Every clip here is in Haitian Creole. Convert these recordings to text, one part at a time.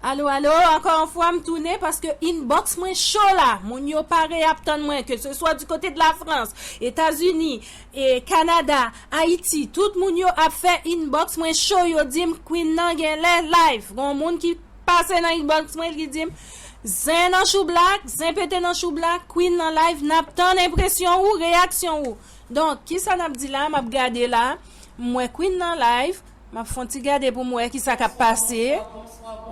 Alo alo ankò yon fwa m tounen paske inbox mwen cho la moun yo pare ap tann mwen ke se swa di kote de la frans etazini e kanada ayiti tout moun yo ap fè inbox mwen cho yo dim queen nan genlè live gon moun ki pase nan inbox mwen li dim zen nan choublak zen pete nan choublak queen nan live nap tann enpresyon ou reyaksyon ou donk kisa nap di la map gade la m wè queen nan live Map fon ti gade poum wè kisa kap pase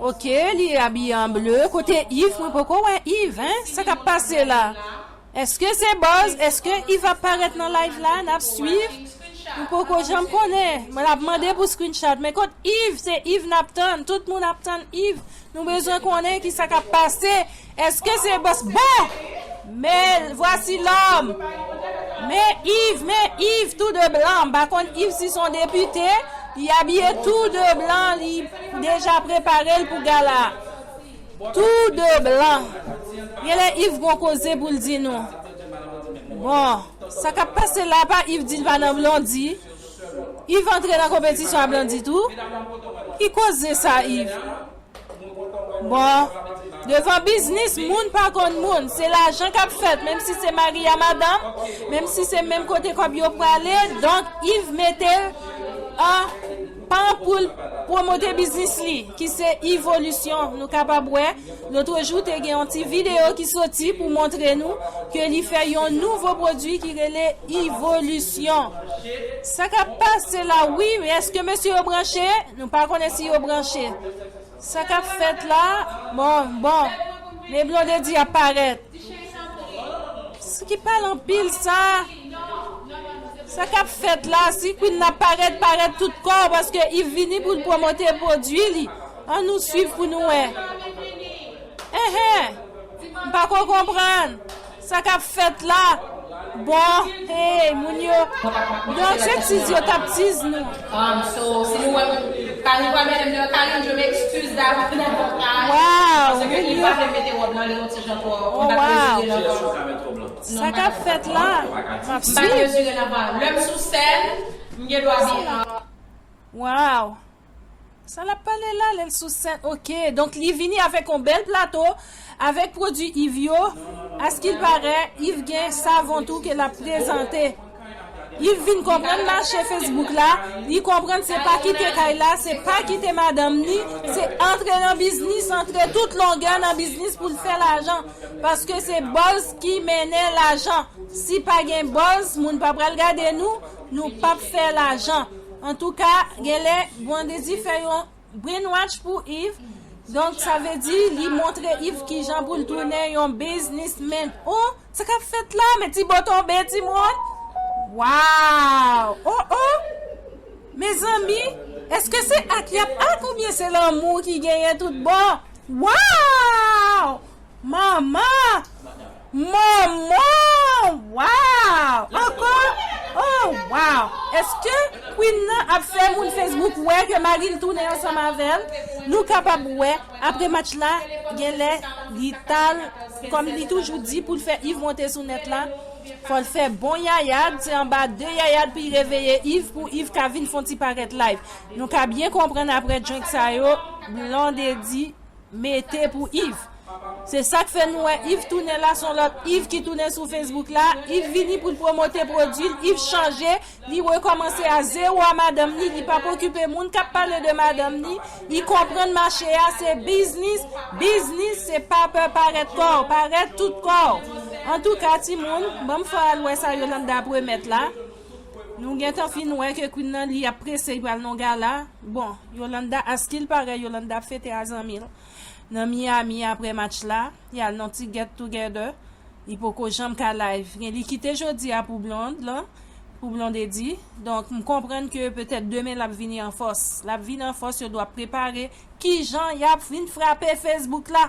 ok li abiye an ble kote Yves mwen poko wè Yves hein sa kap pase la eske se buzz eske Yves ap parèt nan live la nap swiv nou poko janm konnen mwen ap mande pou screenshot men kot Yves se Yves nap tann tout moun ap tann Yves nou bezwen konnen kisa kap pase Eske se bos bon Me vwasi lom Me iv me iv tou de blan m pa konn iv si son depite li abiye tou de blan li deja prepare l pou gala tou de blan genlè iv gon koze pou l di nou bon sa kap pase la pa iv di l pa nan blondi iv antre nan konpetisyon a blondi tou ki koze sa iv. Bon, devan biznis moun pa konn moun, se lajan k ap fèt menm si se mari a madanm, menm si se menm kote kòb yo prale, donk Iv mete l an pan pou l pwomote biznis li ki se Ivolisyon, nou kapab wè lotrejou te gen yon ti videyo ki soti pou montre nou ke li fè yon nouvo pwodui ki rele Ivolisyon. Sa k ap pase la wi, eske mesye yo branche? Nou pa konnen si yo branche. Sa kap fèt la bon bon men blondedy ap parèt si ki pale anpil sa sa kap fèt la si queen nan parèt parèt tout kò paske yv vini poul promote pwodwi li an nou swiv pou nou wè eh eh m pako konprann. Sa kap fèt la boo hey moun yo Don se tiz yo tap tiz nou. Sa lap pale la lel sou scène ok donk li vini avek yon bel plato avek prodwi Yves yo askil parè Yves gen savon tou ke lap prezante Yves vin konprann mache Facebook la li konprann se pa kite kay la se pa kite madanm ni se antre nan biznis antre tout longè nan biznis poul fè lajan paske se buzz ki mennen lajan si pa gen buzz moun pa pral gade nou nou pap fè lajan. Antouka genlè Brandedy fè yon brainwatch pou Yves donk sa vle di li montre Yves kijan poul tounen yon biznis men oh sa kap fèt la men ti bo tonbe ti moun waww oh oh mezanmi eske se ak yap ak oubyen se lanmou ki genyen tout bon waww. Manman! Manman! Waww! Ankò? Oh waww! Eske Queen nan ap fè moun Facebook wè ke mari l tounen ansanm avè l? Nou kapab wè apre match la genlè li t al kòm li toujou di pou l fè Yves monte sou nèt la, fò l fè bon yayad, se anba de yayad pou y reveye Yves pou Yves ka vin fon ti parèt live. Nou ka byen konprann apre drink sa yo Blondedy. mete pou Yves se sak fè nou wè Yves tounen la son lòt Yves ki tounen sou Facebook la Yves vini poul promote prodwil Yves chanje li rekòmanse a zero a madanm li li pap okipe moun kap pale de madanm li li konprann mache a se biznis biznis se pa pè parèt kòw parèt tout kòw antouka timoun banm fè al wè sa Yolanda ap remèt la. Nou gentan fin wè ke Queen nan li ap prese li pral nan yon gala, bon Yolanda askil parèy Yolanda ap fete a zanmil nan Miami aprè match la, yal nan ti get together, li poko janm ka live, gen li kite jodi a pou Blonde lan, pou Blondedy, donk m konprann ke petèt demen lap vini an fòs, lap vini an fòs yo dwa prepare kijan yap vin frape Facebook la,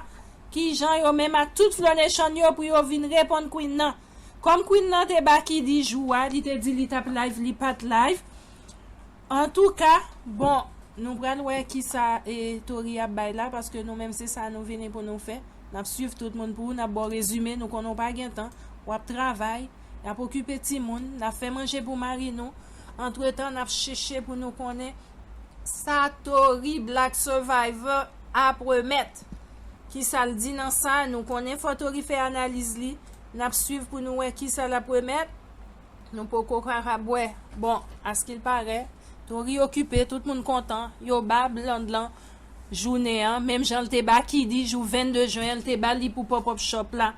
kijan yo menm ak tout Flonechan yo pou yo vin reponn Queen nan. Kòm Queen nan te ba Kiddy jou a li te di li tap live li pat live antouka bon nou pral wè kisa e Tory ap bay la paske nou menm se sa nou vini pou nou fè nap swiv tout moun pou nap baw rezime nou konnen w pa gen tan wap travay nap okipe timoun nap fè manje pou mari nou antretan nap cheche pou nou konnen Sa Tory Black Survivor ap remèt. Kisa l di nan sa, nou konnen fò Tory fè analiz li. N ap swiv pou nou wè kisa l ap remèt. Nou poko kapab wè. Bon, askil parè, Tory okipe, tout moun kontan. Yo ba Bland lan jounen an, menm jan l te ba Kiddy jou 22 jen an, l te ba li pou pop up shop la.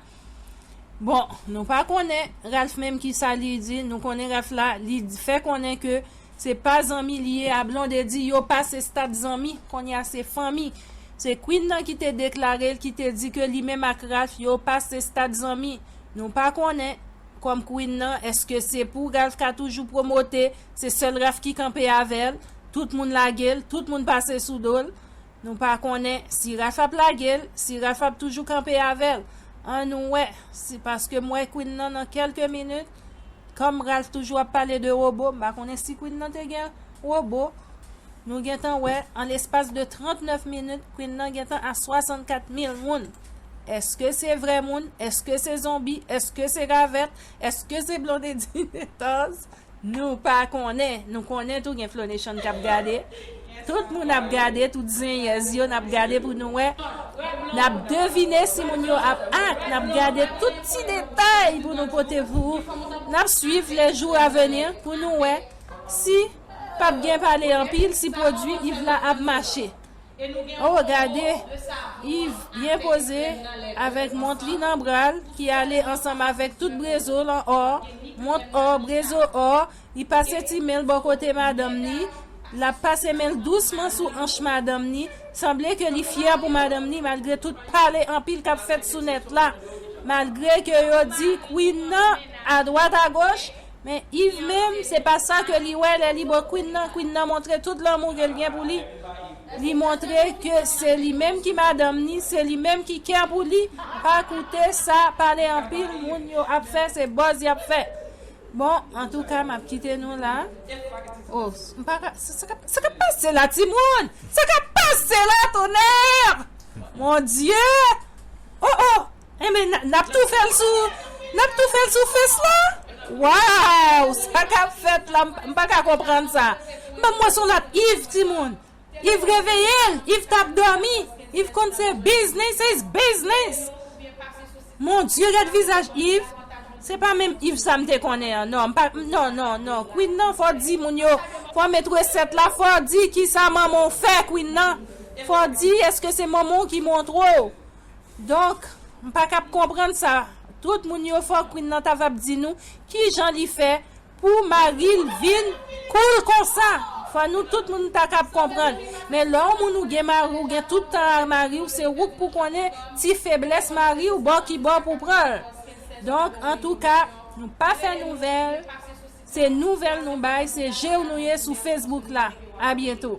Bon, nou pa konnen Ralph menm kisa li di, nou konnen Ralph la li fè konnen ke se pa zanmi li ye a Blondedy yo pase stad zanmi kounye a se fanmi. Se Queen nan ki te deklare l ki te di ke li menm ak Ralph yo pase stad zanmi. Nou pa konnen kòm Queen nan eske se pou Ralph ka toujou promote se sèl Ralph ki kanpe avè l, tout moun lage l, tout moun pase sou do l. Nou pa konnen si Raph ap lage l, si Raph ap toujou kanpe avè l. Ann wè, si paske m wè Queen nan nan kèlke minit, kòm Raph toujou ap pale de wobo, m pa konnen si Queen nan te gen wobo. Nou gen tan wè, an lespas de 39 minit, Queen nan gen tan a 64 mil moun. Eske se vrè moun? Eske se zonbi? Eske se ravèt? Eske se blondedy Nathan's nou pa konnen nou konnen tou gen flo nation kap gade tout moun ap gade tout zenyèz yo nap gade pou nou wè nap devine si moun yo ap act nap gade tout ti detay pou nou pote pou ou nap swiv les jours à venir pou nou wè si pap gen pale anpil si pwodwi Yves la ap mache. Oo gade Yves byen poze avèk mont li nan bral ki ale ansanm avèk tout brezo l an or, mont or, brezo or, li pase ti men l bò kote madanm li, l ap pase men l dousman sou anch madanm li, sanble ke li fyè pou madanm li malgre tout pale anpil k ap fèt sou nèt la, malgre ke yo di Queen nan adwat agoch, Men Yves menm, se pa sa ke li wè lè li bo Queen nan, Queen nan montre tout lanmou ke li gen pou li, li montre ke se li menm ki madanm ni, se li menm ki kè pou li, pa koute sa pale anpil moun yo ap fè, se buzz yap fè. Bon, antouka map kite nou la. Oh, m pa ka, sa kap, sa kap pase la timoun? Sa kap pase la tonnerre! Mon Dieu! Oh oh! Enben nap tou fèl sou nap tou fèl sou fès la waww sa kap fèt la m paka konprann sa banm wè son lòt Yves timoun Yves reveyel Yves tap dòmi Yves konn se biznis is biznis mon Dieu gad vizaj Yves se pa menm Yves sa m te konnen an non non non non Queen nan fò di moun yo fò met resèt la fò di kisa manman w fè Queen nan fò di èske se manman w ki montre w Donk, m pa kab konprann sa tout moun yo fè Queen nan ta vab di nou kijan li fè pou mari l vin cool konsa fò nou tout moun ta kab konprann men lè yon moun ou gen mari ou gen tout tan a mari w se ou k pou konnen ti feblès mari w bò ki bò pou pran l donk antouka nou pa fè nouvèl se nouvèl nou bay se je w nou ye sou Facebook la a byento.